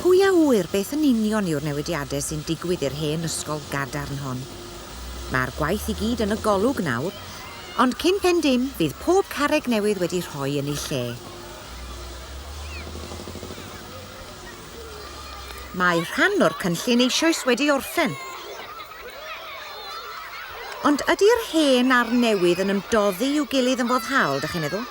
Pwy a ŵyr beth yn union yw'r newidiadau sy'n digwydd i'r hen ysgol gadarn hon. Mae'r gwaith i gyd yn y golwg nawr, ond cyn pen dim bydd pob carreg newydd wedi rhoi yn ei lle. Mae rhan o'r cynllun eisoes wedi orffen. Ond ydy'r hen a'r newydd yn ymdoddi i'w gilydd yn foddhaol, dych chi'n meddwl?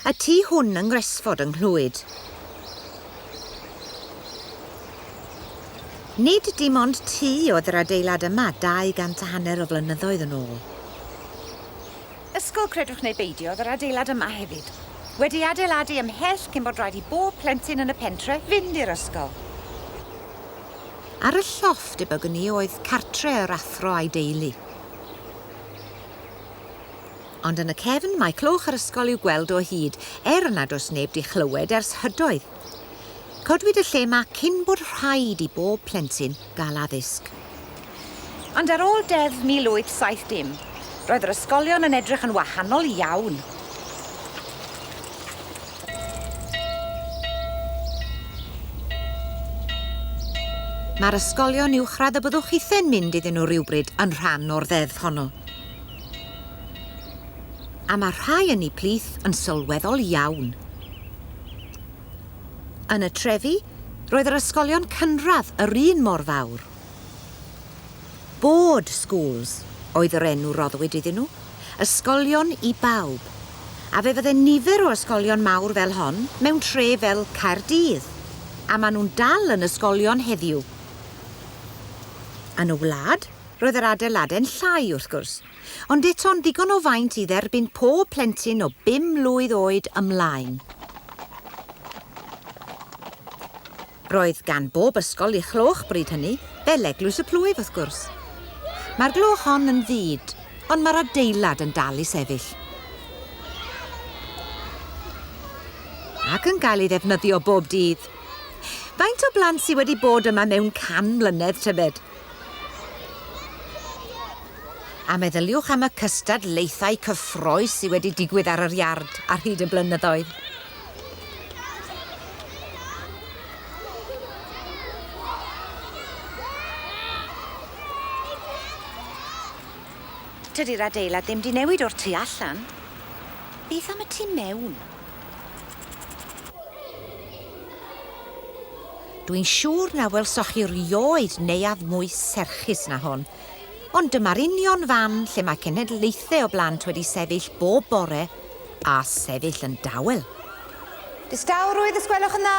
Y tu hwn yng Ngresford yng Nghlwyd. Nid dim ond tŷ oedd yr adeilad yma 200 a hanner o flynyddoedd yn ôl. Ysgol credwch neu beidio oedd yr adeilad yma hefyd. Wedi ei adeiladu ymhell cyn bod rhaid i bob plentyn yn y pentre fynd i'r ysgol. Ar y llofft debygwn i oedd cartre yr athro a'i deulu. Ond yn y cefn mae cloch yr ysgol i'w gweld o hyd, er nad oes neb 'di chlywed ers hydoedd. Codwyd y lle 'ma cyn bod rhaid i bob plentyn gael addysg. Ond ar ôl Deddf 1870, roedd yr ysgolion yn edrych yn wahanol iawn. Mae'r ysgolion uwchradd y byddwch chithau'n mynd iddyn nhw rywbryd yn rhan o'r Ddeddf honno. A mae rhai ynni plith yn sylweddol iawn. Yn y trefi, roedd yr ysgolion cynradd yr un mor fawr. Board schools oedd yr enw roddwyd iddyn nhw, ysgolion i bawb, a fe fydde nifer o ysgolion mawr fel hon mewn tre fel Caerdydd, a maen nhw'n dal yn ysgolion heddiw. Yn y wlad, Roedd yr adeilade'n llai, wrth gwrs, ond eto'n ddigon o faint i dderbyn pob plentyn o bum mlwydd oed ymlaen. Roedd gan bob ysgol ei chloch bryd hynny, fel Eglwys y Plwyf, wrth gwrs. Mae'r gloch hon yn fyd, ond mae'r adeilad yn dal i sefyll. Ac yn cael ei ddefnyddio bob dydd. Faint o blant sydd wedi bod yma mewn can mlynedd, tybed? A meddyliwch am y cystadlaethau cyffrous sydd wedi digwydd ar yr iard ar hyd y blynyddoedd. Tydi'r adeilad ddim 'di newid o'r tu allan. Beth am y tu mewn? Dw i'n siŵr na welsoch chi rioed neuadd mwy serchus na hon. Ond dyma'r union fan lle mae cenhedlaethau o blant wedi sefyll bob bore a sefyll yn dawel. Distawrwydd, os gwelwch yn dda?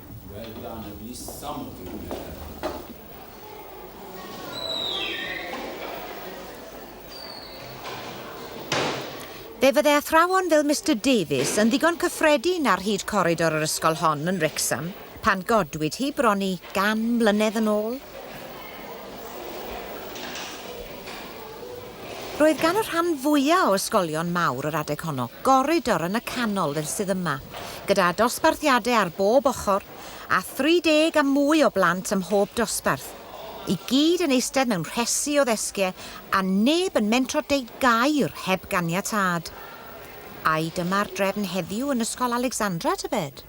Well done, at least some of you met her. Fe fydde athrawon fel Mister Davies yn ddigon cyffredin ar hyd coridor yr ysgol hon yn Wrexham pan godwyd hi bron i gan mlynedd yn ôl. Roedd gan y rhan fwya' o ysgolion mawr yr adeg honno goridor yn y canol fel sydd yma, gyda dosbarthiade ar bob ochr, a 30 a mwy o blant ym mhob dosbarth, i gyd yn eistedd mewn rhesi o ddesgie a neb yn mentro deud gair heb ganiatâd. Ai dyma'r drefn heddiw yn Ysgol Alexandra, tybed?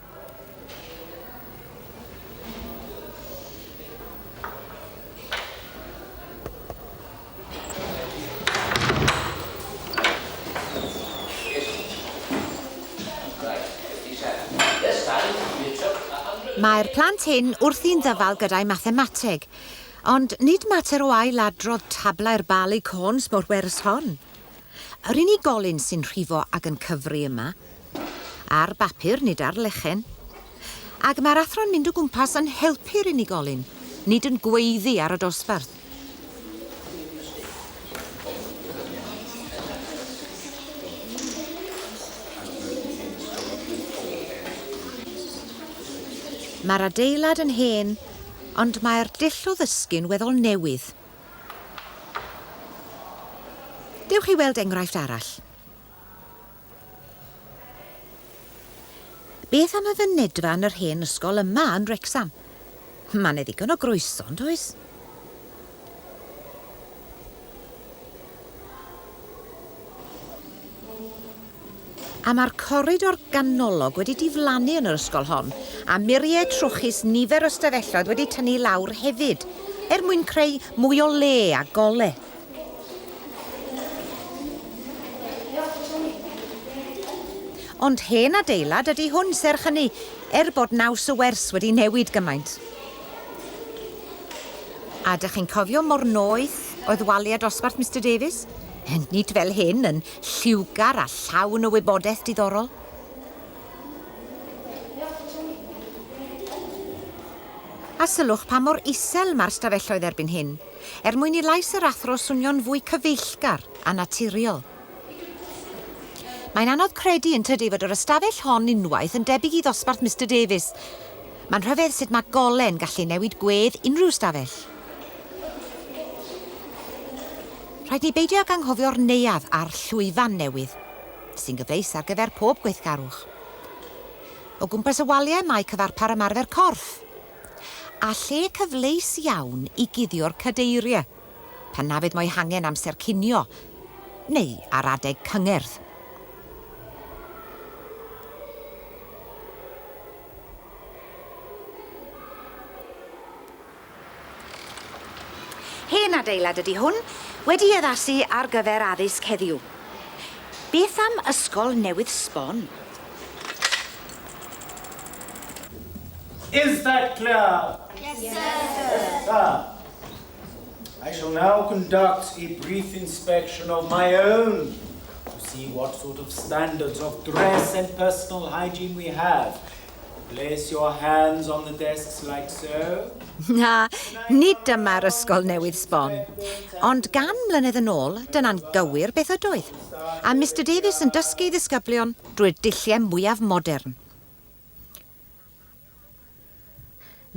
Mae'r plant hyn wrthi'n ddyfal gyda'i mathemateg, ond nid mater o ail-adrodd tablau'r Barleycorns mor bwerus hon. Yr unigolyn sy'n rhifo ag yn cyfri yma, ar bapur nid ar lechen. Ac mae'r athro'n mynd o gwmpas yn helpu'r unigolyn, nid yn gweiddi ar y dosbarth. Mae'r adeilad yn hen, ond mae'r dull o ddysgu'n weddol newydd. Dewch i weld enghraifft arall. Beth am y fynedfa yn yr hen ysgol yma yn Wrecsam? Mae 'na ddigon o groeso, yn does? A mae'r coridor ganolog wedi diflannu yn yr ysgol hon, a muriau trwchus nifer o ystafelloedd wedi tynnu i lawr hefyd, er mwyn creu mwy o le a gole. Ond hen adeilad ydy hwn, serch hynny, er bod naws y wers wedi newid gymaint. A dych chi'n cofio mor noeth oedd waliau dosbarth Mister Davies? Nid fel hyn, yn lliwgar a llawn o wybodaeth diddorol. A sylwch pa mor isel mae'r stafelloedd erbyn hyn, er mwyn i lais yr athro swnio'n fwy cyfeillgar a naturiol. Mae'n anodd credu yn tydi fod yr ystafell hon unwaith yn debyg i ddosbarth Mister Davies. Mae'n rhyfedd sut mae gole'n gallu newid gwedd unrhyw stafell. Rhaid ni beidio ag anghofio'r neuadd a'r llwyfan newydd, sy'n gyfleus ar gyfer pob gweithgarwch. O gwmpas y waliau mae cyfarpar ymarfer corff, a lle cyfleus iawn i guddio'r cadeiriau pan na fydd mo'i hangen amser cinio neu ar adeg cyngerdd. Hen adeilad ydy hwn, wedi ei addasu ar gyfer addysg heddiw. Beth am ysgol newydd sbon? Is that clear? Yes sir. I shall now conduct a brief inspection of my own to see what sort of standards of dress and personal hygiene we have. Place your hands on the desks like so. Na, nid dyma'r ysgol newydd sbon. Ond gan mlynedd yn ôl, dyna'n gywir beth ydoedd. A Mister Davies yn dysgu ei ddisgyblion drwy'r dulliau mwyaf modern.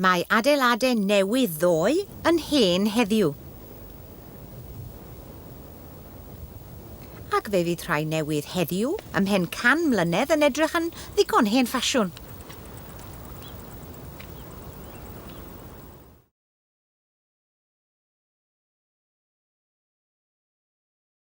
Mae adeiladau newydd ddoe yn hen heddiw. Ac fe fydd rhai newydd heddiw, ymhen can mlynedd, yn edrych yn ddigon hen ffasiwn.